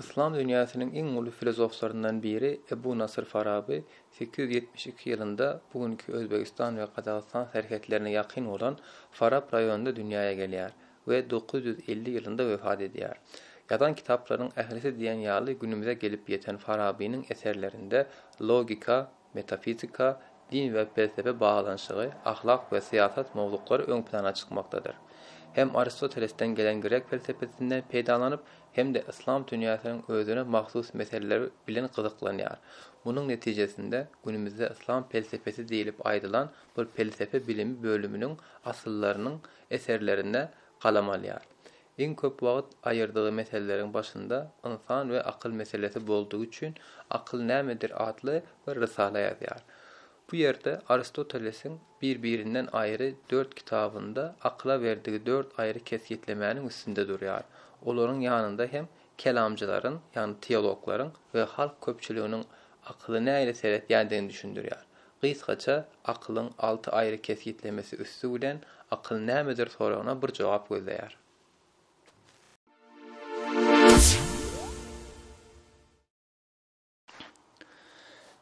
Yslam dünýäsiniň iň uly filozoflaryndan biri Ebu Nasyr Faraby 872 ýylynda bu günki Özbegistan we Gazagystan serhetlerine ýakyn bolan Farap raýonynda dünýäe gelýär. we dokuz ýüz elli ýylynda wepat edýär. Ýazan kitaplarynyň ählisi diýen ýaly günümize gelip ýeten Farabynyň eserlerinde logika, metafizika, din we pelsepe baglanyşygy, ahlak we syýasat mowzuklary öň plana çykmakdadyr. Hem Aristotelesden gelen grek pelsepesinden peýdalanyp, hem-de yslam dünýäsiniň özüne mahsus meseleleri bilen gyzyklanýar. Munuň netijesinde günümizde yslam pelsepesi diýlip aýdylan bir pelsepe bilimi bölüminiň asyllarynyň eserlerinde galam alýar. Iň köp wagt aýyrdygy meseleleriň başynda Ynsan we akyl meselesi boldugy üçin Akyl nämedir atly bir rysala ýazýar. Bu ýerde Aristotelesiň bir-birinden aýry dört kitabynda akyla berdigi dört aýry kesgitlemäniň üstünde durýar. Olaryň ýanynda hem kelamcylaryň, ýagny teologlaryň we halk köpçüliginiň akyly nähili seretýändigini düşündirýär. Gysgaça, akylyň alty aýry kesgitlemesi üsti bilen akyl nämedir soragyna bir jogap gözleýär.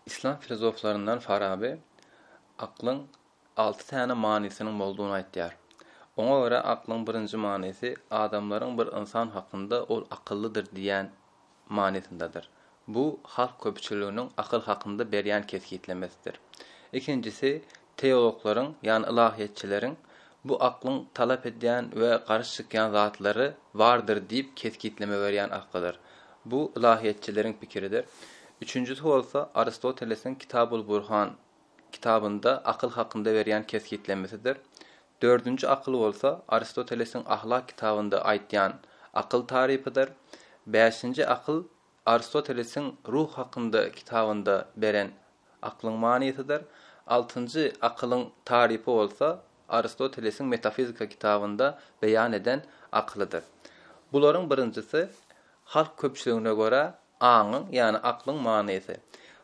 Yslam filozoflaryndan Faraby aklyň alty täne manysynyň boldugyny aýtýar. Oňa görä aklyň birinji manysy adamlaryň bir ynsan hakynda ol akyllydyr diýýän manysyndadyr. Bu halk köpçüliginiň akyl hakynda berýän kesgitlemesidir. Ikinjisi, teologlaryň, ýagny ylahyýetçileriň bu aklyň talap edýän we garşy çykýan zatlary bardyr diýip kesgitleme berýän akydyr. Bu ylahyýetçileriň pikiridir. Üçünjisi bolsa Aristotelesiň Kitabul-Burhan kitabynda akyl hakynda berýän kesgitlemesidir. Dördünji akyl bolsa Aristotelesiň Ahlak kitabynda aýtýan akyl tarypydyr. Bäşinji akyl Aristotelesiň Ruh hakynda kitabynda beren aklyň manysydyr. Altynjy akylyň tarypy bolsa Aristotelesiň Metafizika kitabynda beýan eden akylydyr. Bularyň birinjisi halk köpçüligine görä Aňyň, ýagny aklyň manysy.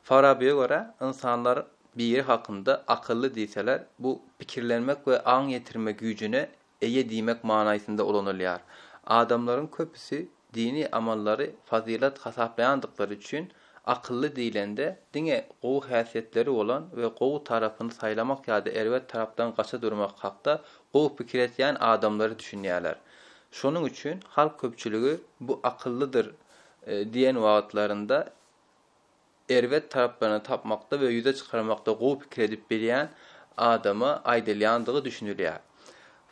Farabyýa görä, ynsanlar biri hakynda akylly diýseler, bu pikirlenmek we aň ýetirme güýjüne eýe diýmek manaýsynda ulanylýar. Adamlaryň köpüsi dini amallary fazylat hasaplaýandyklary üçin, akylly diýlende, diňe gowy häsiýetleri bolan we gowy tarapyny saýlamak ýa-da erbet tarapdan gaça durmak hakda gowy pikir etýän adamlary düşünýärler. Şonuň üçin halk köpçüligi bu akyllydyr Diýen wagtlarynda erbet taraplaryny tapmakda we ýüze çykarmakda gowy pikir edip bilýän adama aýdylýandygy düşünilýär.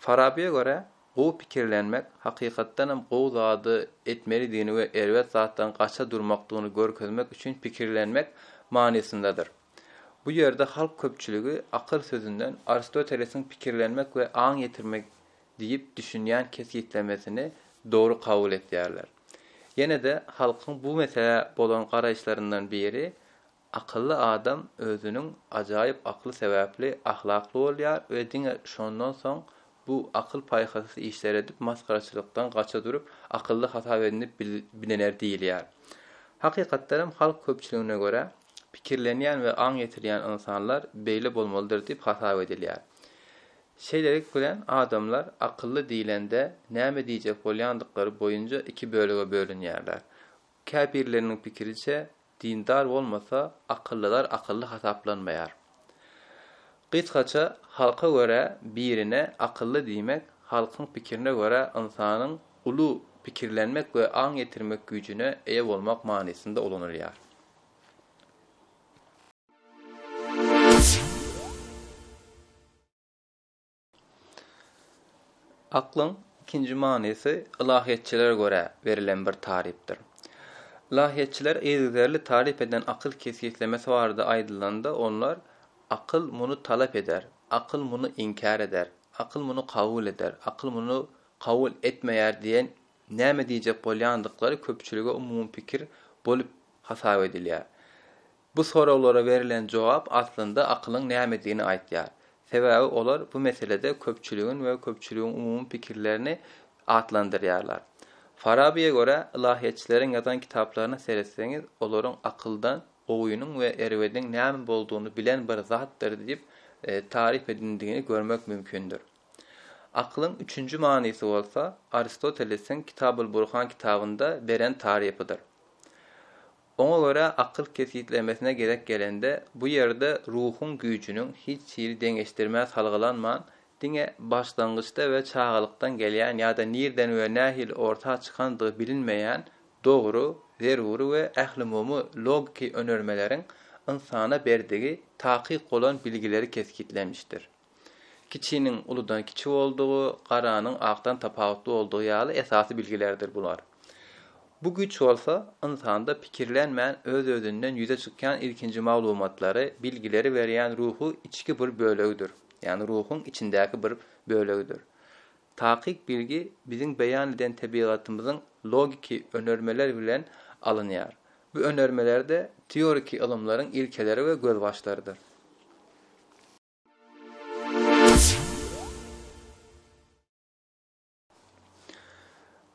Farabyýa görä, gowy pikirlenmek, hakykatdanam gowy zady etmelidigini we erbet zatdan gaça durmakdygyny görkezmek üçin pikirlenmek manysyndadyr. Bu ýerde halk köpçüligi akyl sözünden Aristotelesiň pikirlenmek we aň ýetirmek diýip düşünýän kesgitlemesini dogry kabul etýärler. Ýene-de halkyň bu meselä bolan garaýyşlaryndan biri, Akylly adam özüniň ajaýyp akly sebäpli ahlakly bolýar we diňe şondan soň bu akyl-paýhasys işleri edip masgaraçylykdan gaça durup, akylly hasap edinip bilener diýilýär. Hakykatdanam halk köpçüligine görä, pikirlenýän we aň ýetirýän ynsanlar beýle bolmalydyr diýip hasap edilýär. Şeýlelik bilen, adamlar akylly diýlende näme diýjek bolýandyklary boýunja iki bölege bölünýärler. Käbirleriniň pikiriçe, dindar bolmasa, akyllylar akylly hasaplanmaýar. Gysgaça, halka görä birine akylly diýmek, halkyň pikirine görä ynsanyň uly pikirlenmek we aň ýetirmek güýjüne eýe bolmak manysynda ulanylýar. Aklyň ikinji manysy ylahyýetçilere görä berilen bir tarypdyr. Ylahyýetçiler yzygiderli taryp eden akyl kesgitlemesi barada aýdylanda onlar, Akyl muny talap eder, akyl muny inkär eder, akyl muny kabul eder, akyl muny kabul etmeýär diýen näme diýjek bolýandyklary köpçülige umumy pikir bolup hasap edilýär. Bu soraglara berilen jogap aslynda akylyň nämedigini aýtýar. Sebäbi olar bu meselede köpçüligiň we köpçüligiň umumy pikirlerini atlandyrýarlar. Farabyýa görä, ylahyýetçileriň ýazan kitaplaryna seretseňiz, olaryň akyldan gowynyň we erbediň näme boldugyny bilen bir zatdyr diýip taryp edindigini görmek mümkindir. Akylyň üçünji manysy bolsa, Aristotelesiň Kitabul-Burhan kitabynda beren tarypydyr. Oňa görä akyl kesgitlemesine gerek gelende, bu ýerde ruhuň güýjüniň hiç hili deňeşdirmä salgylanman, diňe başlangyçda we çagalykdan gelýän ýa-da nirden we nähili orta çykandygy bilinmeýän dogry, zerur we ählumumy logiki önermeleriň ynsana berdigi takyk bolan bilgileri kesgitlenmişdir. Kiçiniň uludan kiçi boldugy, garanyň akdan tapawutly boldugy ýaly esasy bilgilerdir bular. Bu güýç bolsa, ynsanda pikirlenmän öz-özünden ýüze çykýan ilkinji maglumatlary, bilgileri berýän ruhy içki bir bölegidir, ýagny ruhuň içindäki bir bölegidir. Takyk bilgi biziň beýan eden tebigatymyzyň logiki önermeler bilen alynýar. Bu önermeler-de teoriki ylymlaryň ilkeleri we gözbaşlarydyr.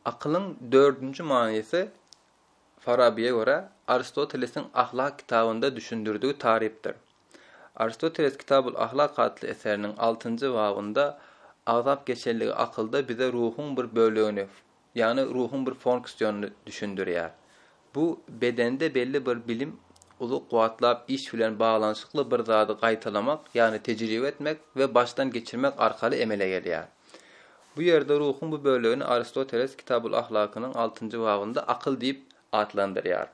Akylyň dördünji manysy, Farabyýa görä, Aristotelesiň Ahlak kitabynda düşündirdigi tarypdyr. Aristoteles Kitabul Ahlak atly eseriniň altynjy babynda agzap geçenligi akylda bize ruhuň bir bölegini, Ýagny ruhuň bir fonksiýonyny düşündirýär. Bu bedende belli bir bilim uzak wagtlap iş bilen baglanyşykly bir zady gaýtalamak, ýagny tejribe etmek we başdan geçirmek arkaly emele gelýär. Bu ýerde ruhuň bu bölegini Aristoteles Kitabul Ahlakynyň altynjy babynda akyl diýip atlandyrýar.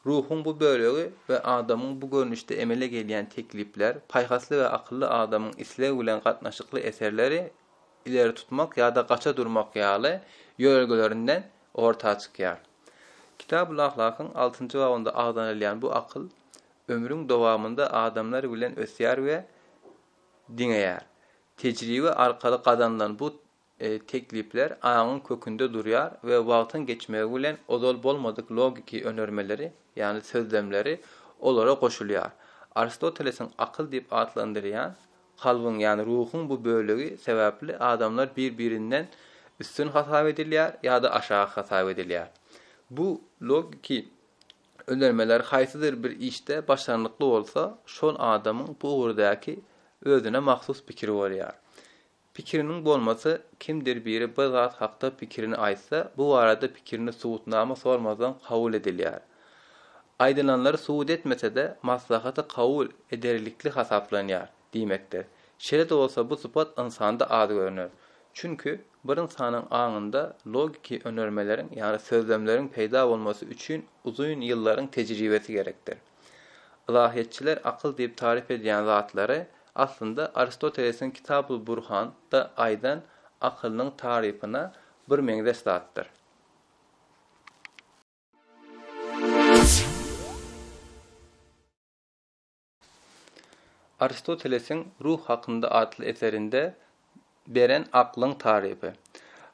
Ruhuň bu bölegi we adamyň bu görnüşde emele gelýän teklipler, paýhasly we akylly adamyň isleg bilen gatnaşykly eserleri, ileri tutmak ýa-da gaça durmak ýaly ýörelgelerinden orta çykýar. Kitabul-Ahlakyň altynjy babynda agzanylýan bu akyl ömrüň dowamynda adamlar bilen ösýär we diňeýär. Tejribe arkaly gazanylan bu teklipler aňyň kökünde durýar we wagtyň geçmegi bilen ozal bolmadyk logiki önermeleri, ýagny sözlemleri olara goşulýar. Aristotelesiň akyl diýip atlandyrýan Kalbyň, ýagny ruhuň bu bölegi sebäpli adamlar bir-birinden üstün hasap edilýär ýa-da aşak hasap edilýär. Bu logiki önermeler haýsydyr bir işde başarnykly bolsa, şol adamyň bu ugurdaky özüne mahsus pikiri bolýar. Pikiriniň bolmasy, kimdir biri bir zat hakda pikirini aýtsa, bu barada pikirini subutnama sormazdan kabul edilýär. Aýdylanlary subut etmese-de, maslahaty kabul ederlikli hasaplanýar diýmekdir. Şeýle-de bolsa bu sypat ynsanda az görner. Çünki, bir ynsanyň aňynda logiki önermeleriň, ýagny sözlemleriň peýda bolmasy üçin uzyn ýyllaryň tejribesi gerekdir. Ylahyýetçiler akyl diýip taryp edýän zatlary, aslynda, Aristotelesiň Kitabul Burhan da aýdan akylynyň tarypyna birmeňzeş zatdyr. Aristotelesiň Ruh hakynda atly eserinde beren aklyň tarypy.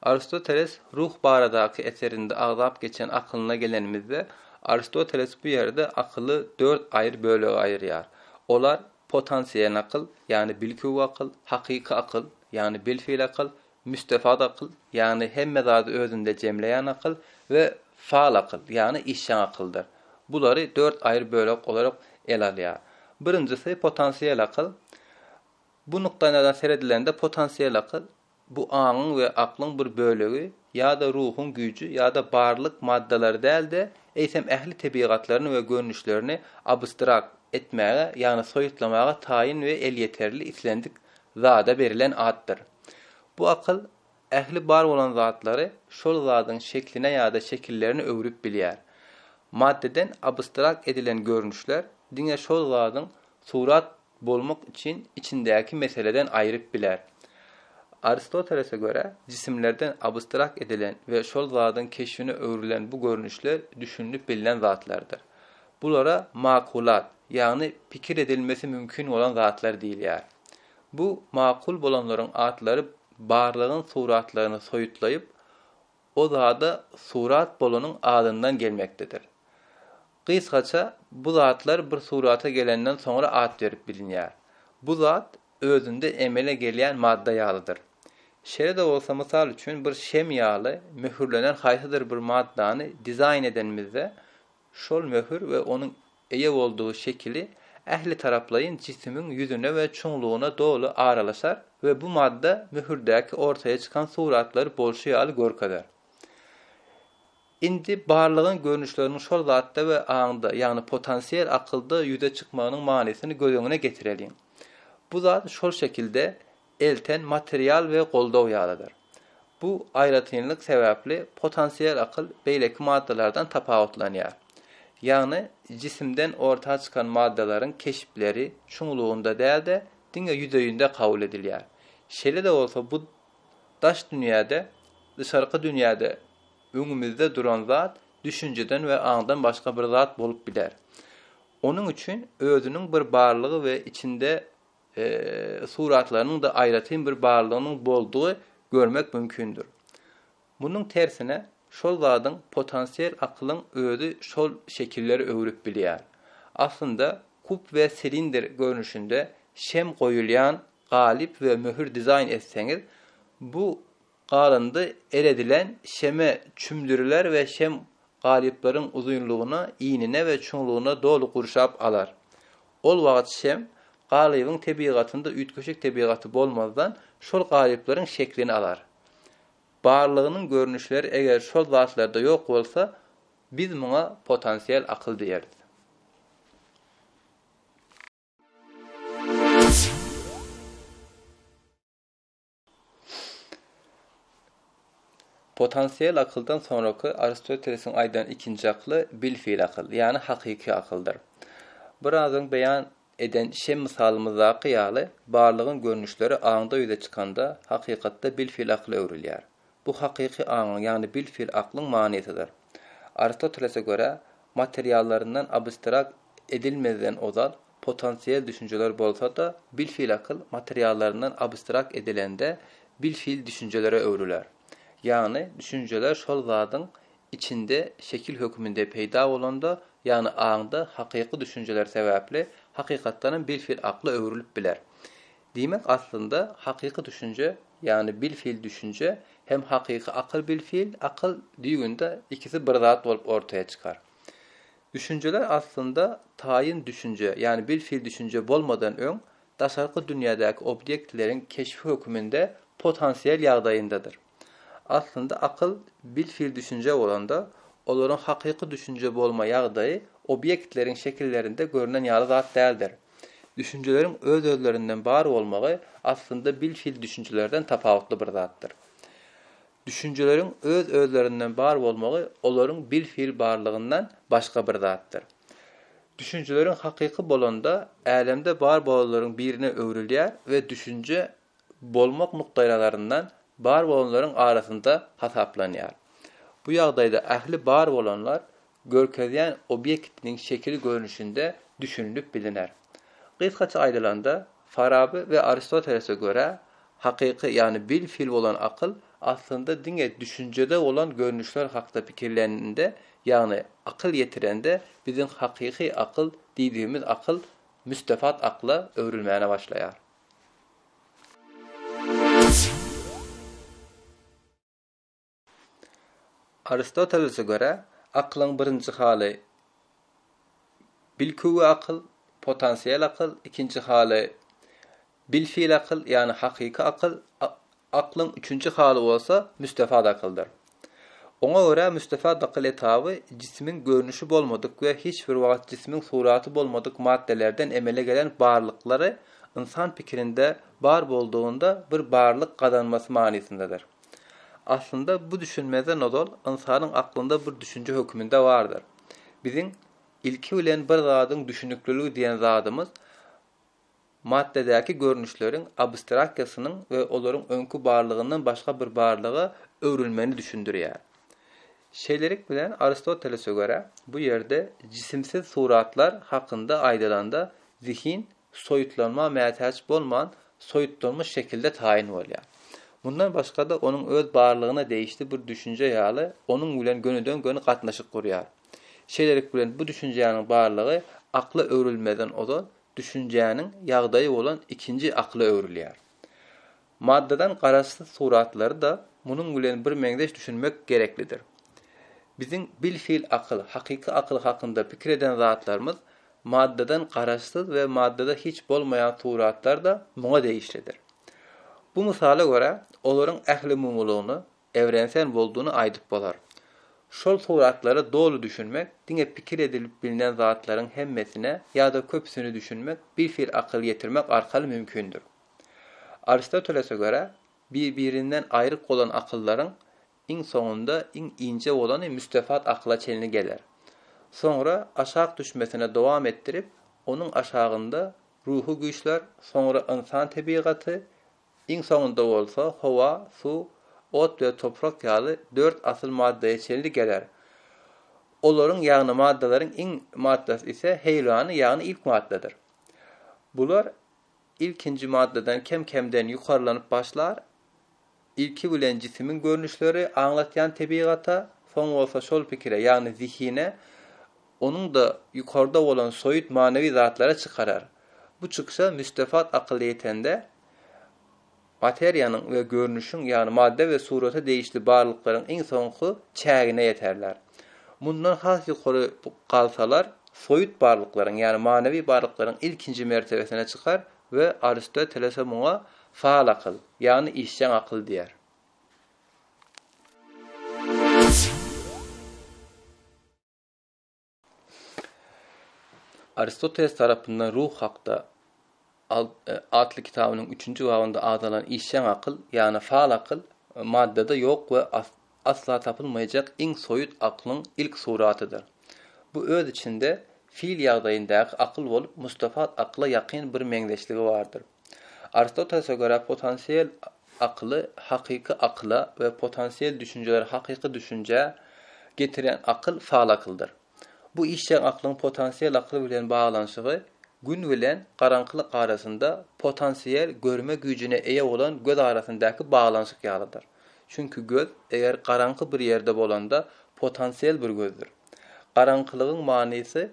Aristoteles Ruh baradaky eserinde agzap geçen akylyna gelenimizde, Aristoteles bu ýerde akyly dört aýry bölege aýyrýar. Olar, potansiýel akyl, ýagny bilkew akyl, hakyky akyl, ýagny bilfil akyl, Müstefat akyl, ýagny hemme zady özünde jemleýän akyl we faal akyl, ýagny işjeň akyldyr. Bulary dört aýry bölek olarok ele alýar. Birinjisi potansiýel akyl. Bu nukdaýnazardan seredilende potansiýel akyl, bu aňyň we aklyň bir bölegi ýa-da ruhuň güýji ýa-da barlyk maddalary däl-de, eýsem ähli tebigatlaryny we görnüşlerini abstrakt etmäge, ýagny soýutlamaga taýyn we elýeterli islendik zada berilen atdyr. Bu akyl ähli bar bolan zatlary şol zadyň şekline ýa-da şekillerine öwrüp bilýär. Maddeden abstrakt edilen görnüşler diňe şol zadyň surat bolmak üçin içindäki meseleden aýryp biler. Aristotelese görä, jisimlerden abstrakt edilen we şol zadyň keşbine öwrülen bu görnüşler düşünilip bilnen zatlardyr. Bulara makulat, ýagny pikir edilmesi mümkin bolan zatlar diýilýär. Bu makul bolanlaryň atlary barlygyň suratlaryny soýutlaýyp, o zada surat bolanyň adyndan gelmekdedir. Gysgaça, bu zatlar bir surata gelenden soňra at berip bilinýär. Bu zat özünde emele gelýän madda ýalydyr. Şeýle-de bolsa, mysal üçin, bir şem ýaly möhürlenen haýsydyr bir maddany dizaýn edenimizde, Şol möhür we onuň eýe boldugy şekili ähli taraplaýyn jisimiň ýüzüne we çuňlugyna doly aralaşar we bu madda möhürdäki ortaýa çykan suratlary bolşy ýaly görkezer. Indi barlygyň görnüşleriniň şol zatda we aňda, ýagny potansiýel akylda ýüze çykmagynyň manysyny göz öňüne getireliň. Bu zat şol şekilde elten material we goldaw ýalydyr. Bu aýratynlyk sebäpli potansiýel akyl beýleki maddalardan tapawutlanýar. Ýagny jisimden orta çykan maddalaryň keşpleri çuňlugynda däl-de, diňe ýüzeýinde kabul edilýär. Şeýle-de bolsa bu daş dünýäde, dyşarky dünýäde öňümizde duran zat düşünjeden we aňdan başga bir zat bolup biler. Onuň üçin özüniň bir barlygy we içinde suratlarynyň-da aýratyn bir barlygynyň boldugy görmek mümkindir. Munuň tersine, şol zadyň potansiýel akylyň özi şol şekilleri öwrüp bilýär. Aslynda, kub we silindr görnüşinde şem goýulýan galyp we möhür dizaýn etseňiz, bu Galyndy eredilen şeme çümdüriler we şem galyplaryň uzynlygyna, inine we çuňlugyna doly gurşap alar. Ol wagt şem galybyň tebigatynda üýtgeşik tebigaty bolmazdan, şol galyplaryň şeklini alar. Barlygynyň görnüşleri eger şol zatlarda ýok bolsa, biz muňa potensial akyl diýeris. Potansiýel akyldan soňraky Aristotelesiň aýdan ikinji akyly bilfil akyl, ýagny hakyky akyldyr. Biraz öň beýan eden şem mysalymyzdaky ýaly, barlygyň görnüşleri aňda ýüze çykanda, hakykatda bilfil akyla öwrülýär. Bu hakyky aňyň, ýagny bilfil aklyň manysydyr. Aristotelese görä, materiallaryndan abstrakt edilmezden ozal, potansiýel düşünjeler bolsa-da, bilfil akyl materiallaryndan abstrakt edilende bilfil düşünjelere öwrüler. Ýagny düşünjeler şol zadyň içinde şekil höküminde peýda bolanda, ýagny aňda hakyky düşünjeler sebäpli hakykatdanam bilfil akla öwrülip biler. Diýmek aslynda hakyky düşünje, ýagny bilfil düşünje hem hakyky akyl-bilfil akyl düýgünde ikisi bir zat bolup ortaýa çykar. Düşünjeler aslynda taýyn düşünje, ýagny bilfil düşünje bolmadan öň, daşarky dünýädäki obýektleriň keşbi höküminde potensial ýagdaýyndadyr. Aslynda akyl bilfil düşünje bolanda, olaryň hakyky düşünje bolma ýagdaýy obýektleriň şekillerinde görnen ýaly zat däldir. Düşünjeleriň öz-özlerinden bar bolmagy aslynda bilfil düşünjelerden tapawutly bir zatdyr. Düşünjeleriň öz-özlerinden bar bolmagy olaryň bil-fil barlygyndan başga bir zatdyr. Düşünjeleriň hakyky bolanda älemde bar bolanlaryň birine öwrülýär we düşünje bolmak nukdaýnazaryndan bar bolanlaryň arasynda hasaplanýar. Bu ýagdaýda ähli bar bolanlar görkezýän obýektiniň şekil görnüşinde düşünilip biliner. Gysgaça aýdylanda, Faraby we Aristotelese görä, hakyky, ýagny bil-fil bolan akyl aslynda diňe düşünjede bolan görnüşler hakda pikirlenende, ýagny akyl ýetirende biziň hakyky akyl diýdigimiz akyl müstefat akla öwrülmäne başlaýar. Aristotelese görä, akylyň birinji haly bilküwi akyl, potensial akyl, ikinji haly bilfil akyl, ýagny hakyky akyl, aklyň üçünji haly bolsa müstefat akyldyr. Oňa görä, müstefat akyl etaby jisimiň görnüşi bolmadyk we hiç bir wagt jisimiň suraty bolmadyk maddelerden emele gelen barlyklary ynsan pikirinde bar boldugynda bir barlyk gazanmasy manysyndadyr. Aslynda bu düşünmezden ozal ynsanyň aklynda bir düşünje höküminde bardyr. Biziň ilki bilen bir zadyň düşünikliligi diýen zadymyz maddadäki görnüşleriň abstraksiýasynyň we olaryň öňki barlygyndan başga bir barlyga öwrülmegini düşündirýär. Şeýlelik bilen Aristotelese görä, bu ýerde jisimsiz suratlar hakynda aýdylanda zihin soýutlanma mätäç bolman, soýutlanmyş şekilde taýyn bolýar. Mundan başga-da, onuň öz barlygyna degişli bir düşünje ýaly, onuň bilen gönüden-göni gatnaşyk gurýar. Şeýlelik bilen, bu düşünjäniň barlygy akla öwrülmezden ozal düşünjäniň ýagdaýy bolan ikinji akla öwrülýär. Maddadan garaşsyz suratlary-da munuň bilen bir meňzeş düşünmek gereklidir. Biziň bilfil akyl, hakyky akyl hakynda pikir eden zatlarymyz maddadan garaşsyz we maddada hiç bolmaýan suratlar-da muňa degişlidir. Bu mysala görä, olaryň ählumumylygyny Ewrensen boldugyny aýdyp bolar. Şol suratlara doly düşünmek, diňe pikir edilip bilnen zatlaryň hemmesine ýa-da köpüsini düşünmek, birhili akyl ýetirmek arkaly mümkindir. Aristotelese görä, bir-birinden aýryk bolan akyllaryň iň soňunda iň inje bolany müstefat akyla çenli geler. Soňra aşak düşmesine dowam etdirip, onuň aşagynda ruhy güýçler, soňra ynsan tebigaty, Iň soňunda bolsa howa, suw, ot we toprak ýaly dört asyl maddaya çenli geler. Olaryň ýagny maddalaryň iň maddasy ise heýwlany ýagny ilk maddadyr. Bular ilkinji maddadan kem kemden ýukarylanyp başlar, ilki bilen jisimiň görnüşleri aňlatýan tebigata, soň bolsa şol pikire ýagny zihine, Onuňda ýukarda bolan soýut manywy zatlara çykarar. Bu çykşa müstefat akyl ýetende, materiýanyň we görnüşiň, ýagny madda we surata degişli barlyklaryň iň soňky çägine ýeterler. Mundan has ýukary galsalar, soýut barlyklaryň, ýagny manywy barlyklaryň ilkinji mertebesine çykar we Aristotelese muňa faal akyl, ýagny işjeň akyl diýer. Aristoteles tarapynda Ruh hakda atly kitabynyň üçünji babynda agzalan işjeň akyl, ýagny faal akyl, maddada ýok we asla tapylmaýjak iň soýut aklyň ilk suratydyr. Bu öz içinde fil ýagdaýyndaky akyl bolup, mustafat akyla ýakyn bir meňzeşligi bardyr. Aristotelese görä potensial Akyly hakyky akyla we potansiýel düşünjeleri hakyky düşünjä getirýän akyl faal akyldyr. Bu işjeň aklyň potansiýel akyl bilen baglanyşygy gün bilen garaňkylyk arasynda potansiýel görme güýjüne eýe bolan göz arasyndaky baglanyşyk ýalydyr. Çünki göz, eger garaňky bir ýerde bolanda, potansiýel bir gözdür. Garaňkylygyň manysy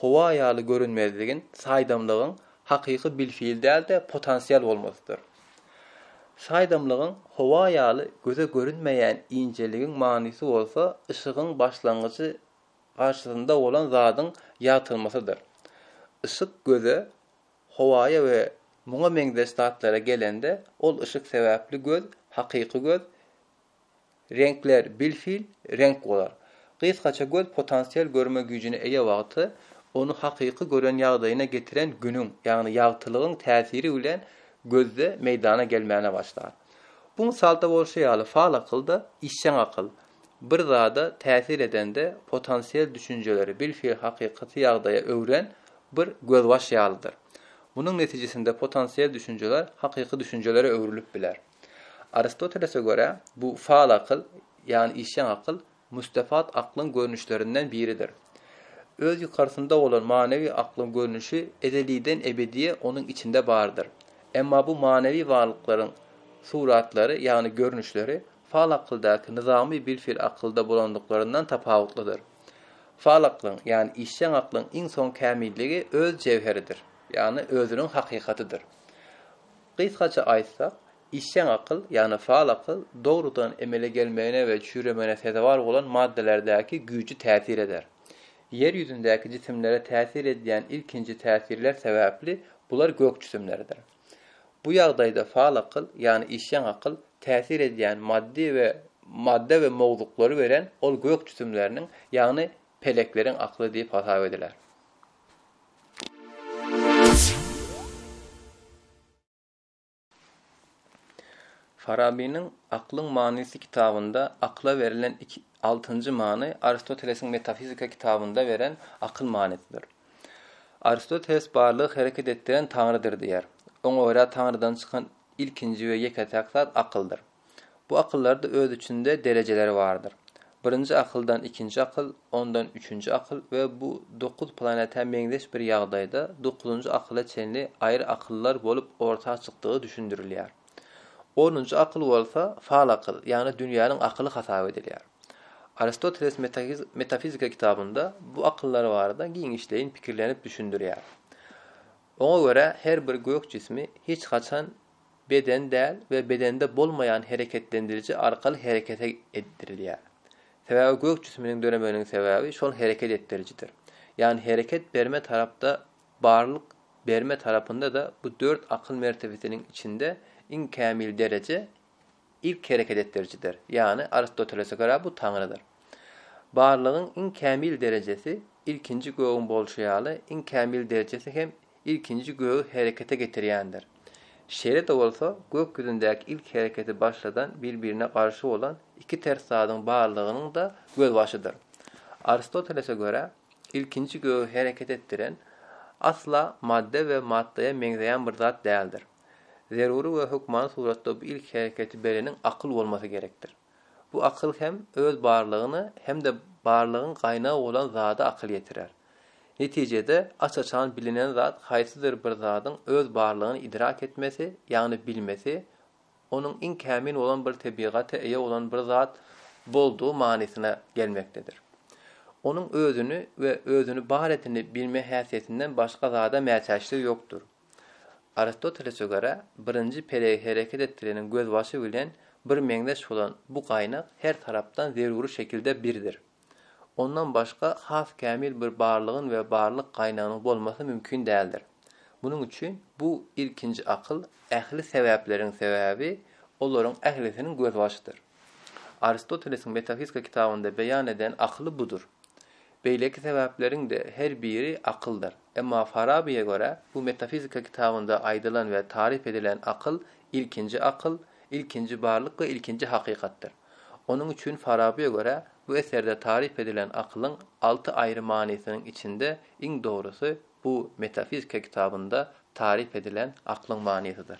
Howa ýaly görünmezligiň, saýdamlygyň hakyky bilfil däl-de potansial bolmasydyr. Saýdamlygyň, howa ýaly göze görünmeýän injeligiň manysy bolsa yşygyň başlangyjy garşysynda bolan zadyň ýagtylmasydyr. Yşyk göze, howaýa we muňa meňzeş zatlara gelende, ol yşyk sebäpli göz, hakyky göz, Reňkler bil-hil reňk bolar. Gysgaça göz potansial görme güýjüne eýe wagty, ony hakyky gören ýagdaýyna getiren Günüň, ýagny ýagtylygyň täsiri bilen gözde meýdana gelmäne başlar. Bu mysalda bolşy ýaly faal akylda işjeň akyl, bir zada täsir edende potansial düşünjeleri bil-hil hakykaty ýagdaýa öwren bir gözbaş ýalydyr. Munuň netijesinde potansial düşünjeler hakyky düşünjelere öwrülip biler. Aristotelese görä, bu faal akyl, ýagny işjeň akyl, müstefat aklyň görnüşlerinden biridir. Öz ýukarysynda bolan manawy aklyň görnüşi ezeliden ebediýe onuň içinde bardyr. Emma bu manawy barlyklaryň suratlary, ýagny görnüşleri, faal akyldaky nyzamy bilfil akylda bolandyklaryndan tapawutlydyr. Faal aklyň, ýagny işjeň aklyň iň soň kämilligi öz jewheridir, ýagny özüniň hakykatydyr. Gysgaça aýtsak, işjeň akyl, ýagny faal akyl, dogrudan emele gelmegine we çüýremegine sezewar bolan maddalardäki güýji täsir eder. Ýer ýüzündäki jisimlere täsir edýän ilkinji täsirler sebäpli bular gök jisimlerdir. Bu ýagdaýda faal akyl, ýagny işjeň akyl, täsir edýän maddy we madda we mowzuklary beren ol gök jisimleriniň, ýagny pelekleriň akly diýip hasap ediler. Farabynyň Aklyň manysy kitabynda akyla berlen iki altynjy many Aristotelesiň Metafizika kitabynda beren akyl manysydyr. Aristoteles barlygy hereket etdiren Taňrydyr diýýär. Oňa görä Taňrydan çykan ilkinji we ýeke-täk zat akyldyr. Bu akyllarda öz içinde derejeleri bardyr. Birinji akyldan ikinji akyl, ondan üçünji akyl we bu dokuz planetä meňzeş bir ýagdaýda dokuzynjy akyla çenli aýry akyllar bolup orta çykdygy düşündirilýär. Onunjy akyl bolsa fal akyl, ýagny dünýäniň akyly hasap edilýär. Aristoteles Metafizika kitabynda bu akyllar barada giňişleýin pikirlenip düşündirýär. Oňa görä her bir gök jismi hiç haçan beden däl we bedende bolmaýan hereketlendiriji arkaly herekete etdirilýär. Sebäbi gök jisiminiň döremeginiň sebäbi şol hereket etdirijidir. Ýagny hereket berme tarapda barlyk berme tarapynda-da bu dört akyl mertebesiniň içinde iň kämil dereje ilk hereket etdirijidir, ýagny Aristotelese görä bu Taňrydyr. Barlygyň iň kämil derejesi ilkinji gögüň bolşy ýaly iň kämil derejesi hem ilkinji gögi herekete getirýändir. Şeýle-de bolsa, gök ýüzündäki ilk hereketi başladan bir-birine garşy bolan iki ters zadyň barlygynyň-da gözbaşydyr. Aristotelese görä, ilkinji gögi hereket etdiren asla madda we maddaýa meňzeýän bir zat däldir. Zerury we hökmany suratda bu ilki hereketi bereniň akyl bolmasy gerekdir. Bu akyl hem öz barlygyna hem-de barlygyň gaýnagy bolan zada akyl ýetirer. Netijede, aç-açan bilinen zat haýsydyr bir zadyň öz barlygyny idrak etmesi, ýagny bilmesi, onuň iň kämil bolan bir tebigata eýe bolan bir zat boldugy manysyna gelmekdedir. Onuň özüni we özüni bar edeni bilme häsiýetinden başga zada mätäçligi ýokdur. Aristotelese görä, birinji pelegi hereket etdireniň gözbaşy bilen bir meňzeş bolan bu gaýnak her tarapdan zeruri şekilde birdir. Ondan başga has kämil bir barlygyň we barlyk gaýnagynyň bolmasy mümkin däldir. Munuň üçin bu ilkinji akyl ähli sebäpleriň sebäbi, olaryň ählisiniň gözbaşydyr. Aristotelesiň Metafizika kitabynda beýan eden akyly budur. Beýleki sebäpleriň-de her biri akyldyr. Emma Farabyýa görä, bu metafizika kitabynda aýdylan we taryp edilen akyl ilkinji akyl, ilkinji barlyk we ilkinji hakykatdyr. Onuň üçin Farabyýa görä, bu eserde taryp edilen akylyň alty aýry manysynyň içinde iň dogrusy bu metafizika kitabynda taryp edilen aklyň manysydyr.